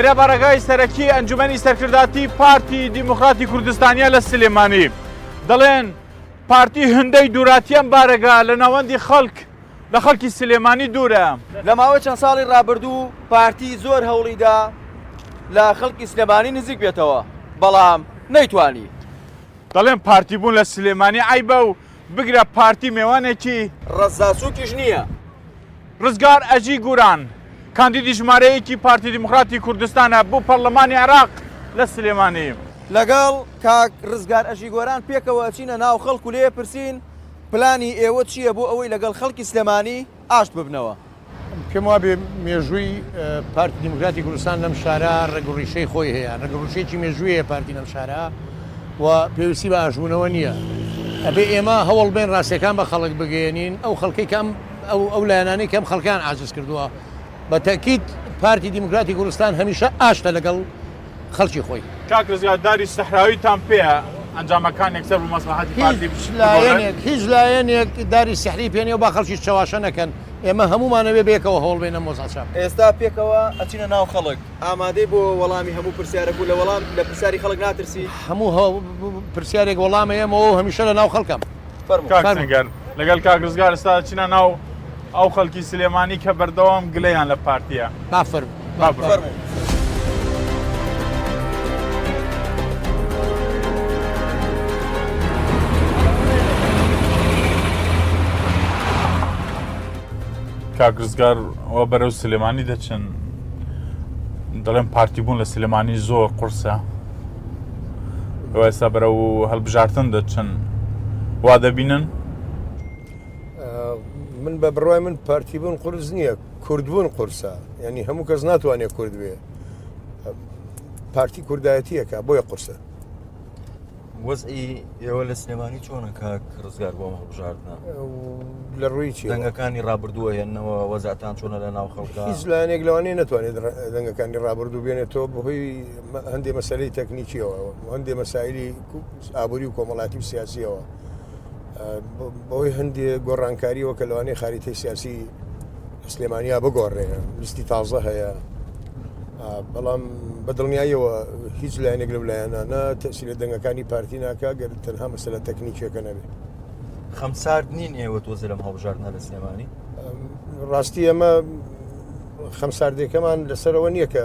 ئێرە بەڕێگای سەرەکی ئەنجومی سەرکرداتی پارتی دیموکراتی کوردستانیا لە سلێمانی دەڵێن پارتی هەندەی دووراتیان بارەگا لە ناوەندی خەڵک لە خەڵکی سلێمانی دوورە. لە ماوەی چەند ساڵی ڕابردوو پارتی زۆر هەوڵی دا لە خەڵکی سلێمانی نزیک بێتەوە، بەڵام نەیتوانی. دەڵێن پارتی بوون لە سلێمانی عەیبە و بگرە پارتی مێوانێکی. ڕەزا سووکیش نییە. ڕزگار ئەژی گوران، کاندیدی ژمارە یەکی پارتی دیموکراتی کوردستانە بۆ پەرلەمانی عێراق لە سلێمانی. لەگەڵ کاک ڕزگار ئەژی گۆران پێکەوە ئەچینە ناو خەڵک و لێ ئەپرسین، پلانی ئێوە چییە بۆ ئەوەی لەگەڵ خەڵکی سلێمانی ئاشت ببنەوە؟ پێم وابێ مێژووی پارتی دیموکراتی کوردستان لەم شارە ڕەگ و ڕیشەی خۆی هەیە، ڕەگ و ڕیشەیەکی مێژووی هەیە پارتی لەم شارە و پێویستی بە ئاشتبوونەوە نییە. ئەبێ ئێمە هەوڵ بەین ڕاستییەکان بە خەڵک بگەیەنین، ئەو خەڵکەی کە ئەم ئەو لایەنانەی کە ئەم خەڵکەیان عاجز کردووە. بە تەئکید پارتی دیموکراتی کوردستان هەمیشە ئاشتە لەگەڵ. خەڵکی خۆی. کاک رزگار داری سەحراوی تان پێیە ئەنجامەکان یەکسەر بە مەسڵەحەتی پارتی بگۆڕێت؟ هیچ لایەنێک داری سحری پێ نیە و با خەڵکیش چەواشە نەکەن ئێمە هەموومان ئەوێ بەیەکەوە هەوڵ بێنە مۆزا چاپ بکەین. ئێستا پێکەوە ئەچینە ناو خەڵک. ئامادەی بۆ وەڵامی هەموو پرسیارەک و لە وەڵام لە پرسیاری خەڵک ناترسی؟ هەموو پرسیارێک وەڵامە ئێمەوە و هەمیشە لە ناو خەڵکم. کاک سەنگەر لەگەڵ کاک ڕزگار ئێستا دەچینە ناو ئەو خەڵکی سلێمانی کە بەردەوام گلەیان لە پارتییە بافەر بافەر. کاکزگار ئەوە بەرەو سلێمانی دەچن دەڵێن پارتی بوون لە سلێمانی زۆر قورسە ئێستا بەرە و هەڵبژارتن دەچن وا دەبینن من بە بڕای من پارتی بوون قرس نییە کوردبوون قورسە ینی هەموو کەس ناتوانێت کورد بێ پارتی کوردایەتیەکە بۆیە قورسە وەزئی ئێوە لە سلێمانی چۆنە کاک ڕزگار بۆ هەڵبژاردنە لە ڕووی دەنگەکانی ڕابردووە هێنەوە وەزاتان چۆنە لە ناو خەڵکە هیچ لایەنێک لەوانەیە نتوانێت دەنگەکانی ڕابردوو بێنێتەوە بەهۆی هەندێ مەسەلەی تەکنیکیەوە و هەندێ مەسایلی ئابووری و کۆمەڵاتی و سیاسیەوە بەوەی هەندێ گۆڕانکاریەوە کە لەوانەیە خاریتەی سیاسی سلێمانیا بگۆڕێ لیستی تازە هەیە بەڵام بە دڵنیاییەوە هیچ لایەنێک لەو لایەنانە تەسی لە دەنگەکانی پارتی ناکە گەر تەنها مەسەلە تەکنیکیەکە نەبێت خەمسارد نین ئێوە تۆزە لەم هەڵبژاردنە لە سلێمانی ڕاستی ئەمە خەمساردێکەمان لەسەرەوە نییە کە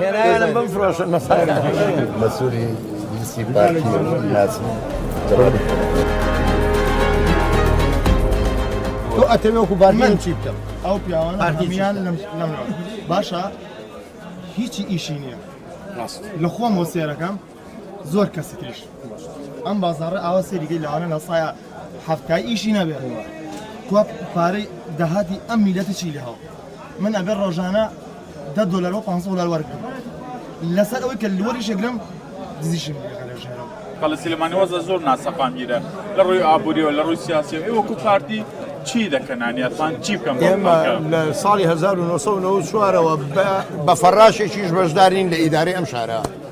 هێنایانە بمفرۆشن مەسووری لیستی پارتی ناسم تۆ ئەتەوێ وەکو بارمەن چی بکەم ئەو پیاوانە هەمیان لەم باشە هیچی ئیشی نییە لە خۆم وە سێرەکەم زۆر کەسی تریش ئەم بازارە ئاوا سەیری گەی لەوانە نەسایە حەفتای ئیشی نابێتەوە کوا پارەی داهاتی ئەم میلەتی چی لە هەو من ئەبێ ڕۆژانە دە دلار و 500 دلار وەرگم لەسەر ئەوەی کە لوەری شەگرم دزیشم لەژێرەوە کەڵە سلێمانیوەزە زۆر ناسەقامگیرە لە ڕووی ئابووریەوە لە ڕووی سیاسی ئێوە کو پارتی چی دەکەنانیاتان چی بکەم ئێمە لە ساڵی 1994ەوە بە فەراشێکیش بەشدارین لە ئیدارەی ئەم شارە.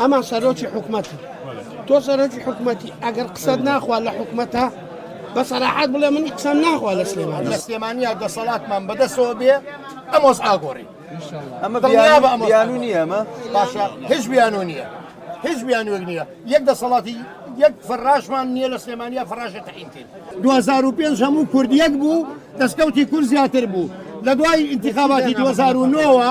ئەمە سەرۆکی حکومەتە تۆ سەرۆکی حکومەتی ئەگەر قسەت ناخوا لە حکومەتە بە سەراحەت بڵێ منی قسەم ناخوا لە سلێمان لە سلێمانیا دەسەڵاتمان بەدەسەوە بێ ئەمۆس ئاگۆڕی ئەمە بیانو نییە ئەمە باشە هیچ بیانو نییە هیچ بیانوێک نییە یەک دەسەڵاتی یەک فەراشمان نییە لە سلێمانیا فەراشە تەعینکرد 2005 هەموو کوردیەک بوو دەستکەوتی کورد زیاتر بوو لە دوای ئینتخاباتی 2009ەوە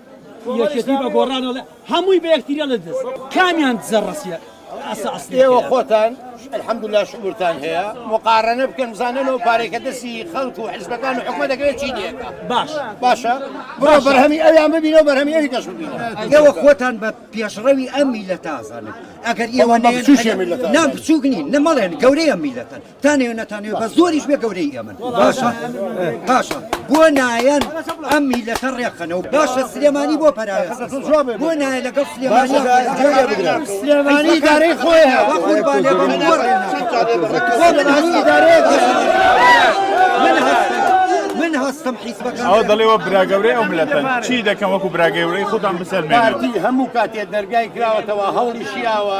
یەکێتی بە گۆڕان ئەڵێ هەمووی بە یەکتری ئەڵێ دز کامیان دزە ڕەسیە ئەسە ئەسلی ئێوە هەیە. خۆتان الحمدلله شعورتان هەیە مقارنە بکەن بزانن و پارێکە دەستی خەڵک و حزبەکان و حکومە دەکەوێت چی دێکە باش باشە بڕۆ بەرهەمی ئەویان ببینە و بەرهەمی ئەوی کەش ببینە ئێوە خۆتان بە پێشڕەوی ئەم میلەتە ئەزانن ئەگەر ئێوە بە بچووکێ میلەتە نە ئەزانن. بچووک نین نە مەڵێن گەورەی ئەم میلەتەن تانەی و نەتانەوێ بە زۆریش بێ گەورەی ئێمن باشە باشە بۆ نایەن ئەم میلەتە ڕێخەنە و باشە سلێمانی بۆ پەراوێ بۆ نایە لەگەڵ سلێمانی سلێمانی دارەی خۆیان من هەستم حیزبەکە ئەو دەڵێەوە براگەورەی ئەو ملەتە چی دەکەم وەکو براگەورەی خوددان بسەر پارتی هەموو کاتێ دەرگای کراوەتەوە هەوڵی شیاوە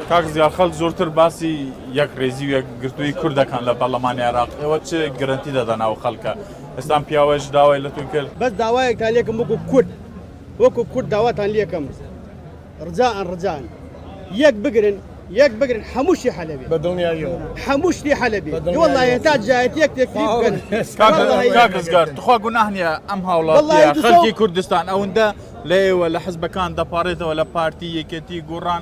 کاک زیا خەلک زۆرتر باسی یەک رێزی و یەک گرتووی کورد دەکەن لە پەرلەمانی عێراق ئێوە چ گرەنتی دەدەن ئەو خەلکە ئێستان پیاوەش داوای لە تون کرد بەس داوایەکتان لێکم وەکو کورد وەکو کورد داواتان لێکم رجائەن رجائەن یەک بگرن یەک بگرن هەموو شی حەلە بێ هەموو شتی حەلە بێ والله هێتا جایەت یەک تێکری بکەن کاکزگار تخوا گوناه نییە ئەم هاوڵات خەڵکی کوردستان ئەوەندە لە ئێوە لە حزبەکان دەپارێتەوە لە پارتی یەکێتی گۆڕان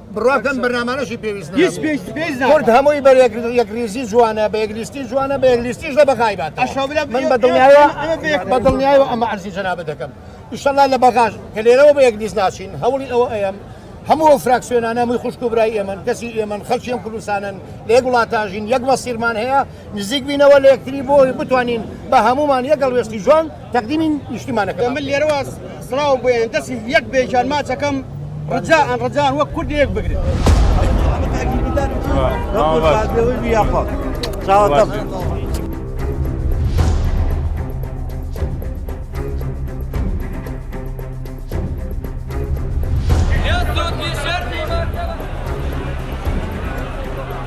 بڕوا کەن بەرنامانەشی پێویست هیچ نابوو. پێویست پێویست ناکات. کورد هەمووی بە یەک یەکریزی جوانە بە یەکلیستی جوانە بە یەکلیستیش لە بەغای بات ئەشەو برا من بە دڵنیایەوە ئێمە- ئێمە بە یەک- بە دڵنیایەوە ئەمە عەرزی جەنابت دەکەم ئیشەڵا لە بەغاش کە لێرەوە بە یەکلیست ناچین هەوڵی ئەوە ئەیەم هەموو ئەو فراکسیۆنانە هەمووی خوشک و برای ئێمەن کەسی ئێمەن خەڵکی ئەم کوردستانن لە یەک وڵاتاژین یەک مەسیرمان هەیە نزیک بینەوە لە یەکتری بۆ بتوانین بە هەمومان یەک گەڵوێستی جوان تەقدیمی نیشتیمانەکە من لێرەوە سڵاو بۆیان دەستی یەک بێژان ماچەکەم ڕجا ئەن ڕجان وەک کورد یەک بگرن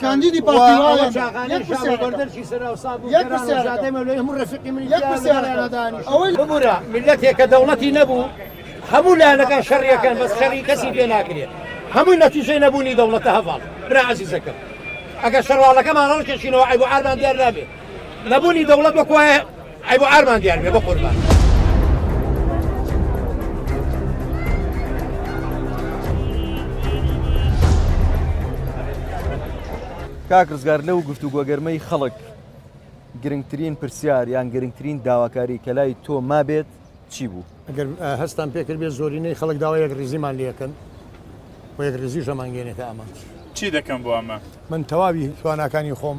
کاندیدی پارتی وایەنەدانیشەوەیەکەکە دەوڵەتی نەبوو هەموو لایەنەکان شەڕیەکەن بەس شەڕی کەسی پێ ناکرێت هەمووی نەتیجەی نەبوونی دەوڵەتە هەواڵ برازیزەکەم ئەگەر شەڕواڵەکەمان ڕەڵکەشینەوە عیبعامان دیار نابێت نەبوونی دەوڵەت وەکوایە ئەی بۆ ئارمان دیار بێ بەقوربان. کاک ڕزگار لەو گفتوگۆ گەرمەی خەڵک گرنگترین پرسیار یان گرنگترین داواکاری کە لای تۆ مابێت چی بوو؟ ئەگەر هەستان پێکرد بێ زۆرینەی خەڵک داوا یەک ریزیمان لەکەن و یەک ریزیشەمانگەێنێتە ئامانج. چی دەکەم بۆ ئەمە؟ من تەواوی تواناکانی خۆم.